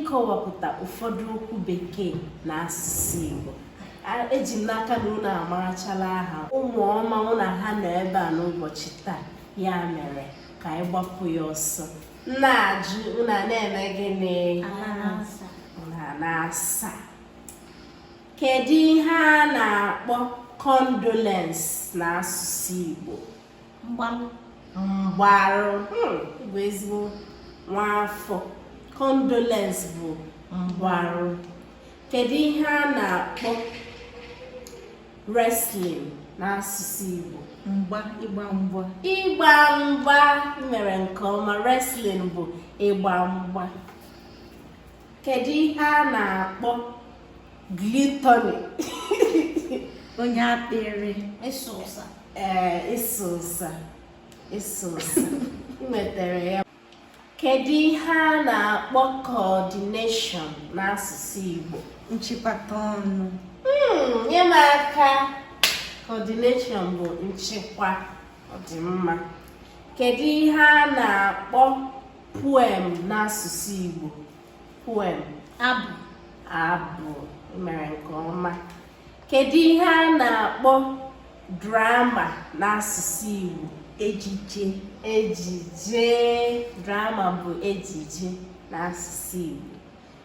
ịkọwapụta ụfọdụ okwu bekee n'asụsụ Igbo eji m n'aka na unu amarachala aha ụmụ ọma mụ na ha nọ ebe a n'ụbọchị taa ya mere ka anyị gbapụ ya ọsọ na-ajụ unu na-eme gịnị na-asa Kedu ihe a na-akpọ condolence n'asụsụ Igbo? Mgbarụ. Mgbarụ hmm, bụ ezigbo nwaafọ. Condolence bụ mgbarụ. Kedu ihe a na-akpọ wrestling n'asụsụ Igbo? Mgba, ịgba mgba. Ịgba mgba mere nke ọma. Wrestling bụ ịgba mgba. kedu ihe a na-akpọ gluttony onye akpịrị ịsụ ụsa ee ịsụ ụsa ịsụ ụsa i nwetara ya kedu ihe a na-akpọ coordination n'asụsụ Igbo nchịkọta ọnụ hmm, nye m aka coordination bụ nchịkwa ọdịmma kedu ihe a na-akpọ poem n'asụsụ Igbo poem abụ abụ i mere nke ọma kedu ihe a na-akpọ drama n'asụsụ Igbo ejije ejije drama bụ ejije n'asụsụ Igbo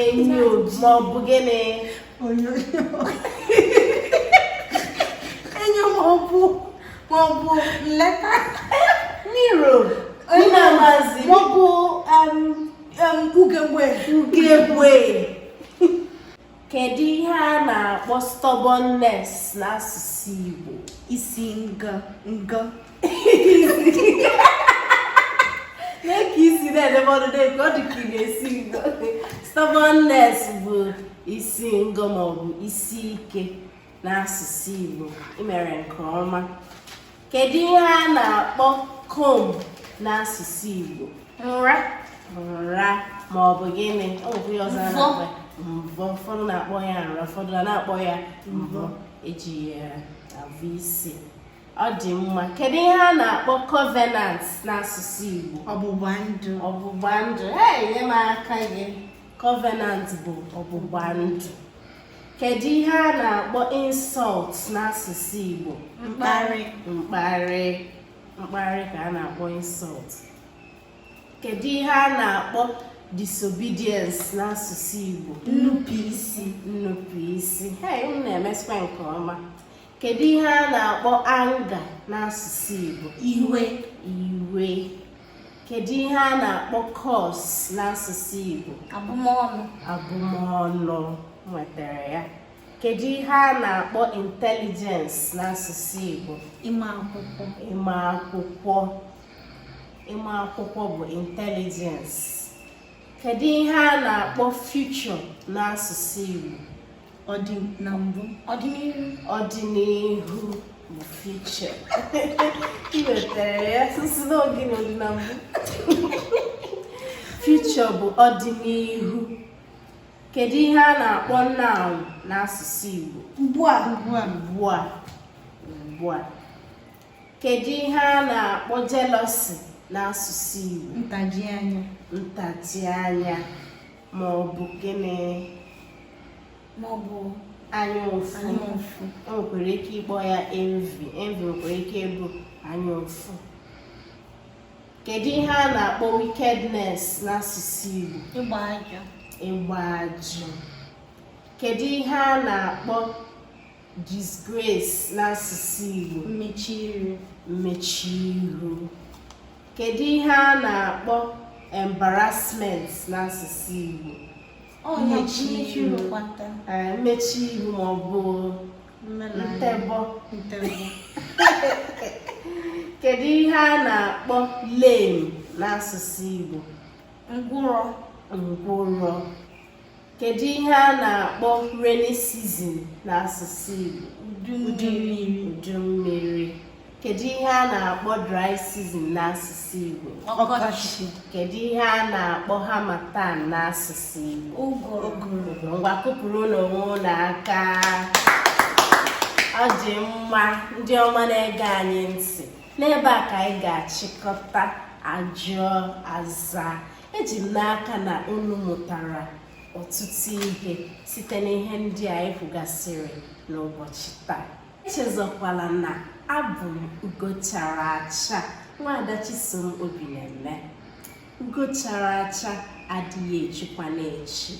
enyo ma ọ bụ gịnị enyo ma ọ bụ ma ọ bụ nleta mirror onye amazi ma ọ bụ ugegbe ugegbe kedu ihe a na-akpọ stubbornness n'asụsụ Igbo isi nganga na-eke isi na-edebe ọdụ na-eke ọ dị ka ị na-esi ngo stubbornness bụ isi ngo ma ọ bụ isi ike n'asụsụ Igbo i mere nke ọma kedu ihe a na-akpọ comb n'asụsụ Igbo nra nra ma ọ bụ gịnị ọ bụ ihe ọzọ a na-akpọ ya? mvọ ụfọdụ na-akpọ ya nra ụfọdụ na-akpọ ya mvọ e ji ya avụ isi ọ dị mma kedu ihe a na-akpọ covenant n'asụsụ Igbo ọgbụgba ndụ ọgbụgba ndụ ee nye m aka gị covenant bụ ọgbụgba ndụ kedu ihe a na-akpọ insult n'asụsụ Igbo mkparị mkparị mkparị ka a na-akpọ insult kedu ihe a na-akpọ disobedience n'asụsụ Igbo nnupụisi nnupụisi hey unu na-emesịkwa nke ọma kedu ihe a na-akpọ anga n'asụsụ Igbo iwe iwe kedu ihe a na-akpọ kọs n'asụsụ Igbo abụmọnụ abụmọnụ nwetara ya kedu ihe a na-akpọ intelijens n'asụsụ Igbo ịma akwụkwọ ịma akwụkwọ ịma akwụkwọ bụ intelligence kedu ihe a na-akpọ future n'asụsụ Igbo ọdị na mbụ ọdịnihu ọdịnihu bụ future i nwetara ya sisi n'oge na ọdị na mbụ future bụ ọdịnihu kedu ihe a na-akpọ now n'asụsụ Igbo ugbu a ugbu a ugbu a ugbu a kedu ihe a na-akpọ jealousy n'asụsụ Igbo ntaji anya ntaji anya ma ọ bụ gịnị ma ọ bụ anya ụfụ e nwekwara ike ịkpọ ya envy envy nwekwara ike ịbụ anya ụfụ kedu ihe a na-akpọ wickedness n'asụsụ Igbo ịgba ajụ kedu ihe a na-akpọ disgrace n'asụsụ Igbo mmechi iru mmechi iru kedu ihe a na-akpọ embarrassment n'asụsụ Igbo mmechi iru mmechi iru ma ọ bụ ntebọ kedu ihe a na-akpọ lame n'asụsụ Igbo ngwụrọ ngwụrọ Kedu ihe a na-akpọ rainy season n'asụsụ Igbo? Udu mmiri. Udu mmiri. Kedu ihe a na-akpọ dry season n'asụsụ Igbo? Ọkọchị. Kedu ihe a na-akpọ harmattan n'asụsụ Igbo? Ụgụrụ. Ngwa kụpụrụnụ onwe unu aka. Ọ dị mma ndị ọma na-ege anyị ntị. N'ebe a ka anyị ga-achịkọta ajụọ aza. eji m n'aka na unu mụtara ọtụtụ ihe site n'ihe ndị a anyị kwugasịrị n'ụbọchị taa echezọkwala na abụ m ugo chara acha nwaada chisom obineme ugo chara acha adịghị echukwanụ echu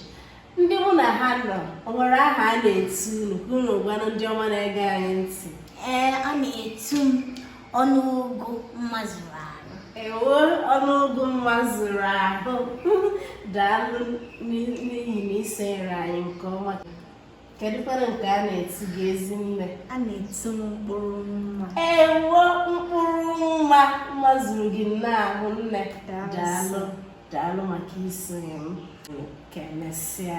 ndị mụ na ha nọ o nwere aha a na-etu unu unu gwanụ ndị ọma na-ege anyị ntị ee a na-etu m ọnụ ụgụ mma zuru ahụ ewo ọnụ ụgụ mma zuru ahụ daalụ n'ihi na i sonyere anyị nke ọma kedu kwanụ nke a na-etu gị ezinne a na-etu m mkpụrụ mma ewo mkpụrụ mma mma zuru gị n'ahụ nne daalụ daalụ maka isonye m ka e mesịa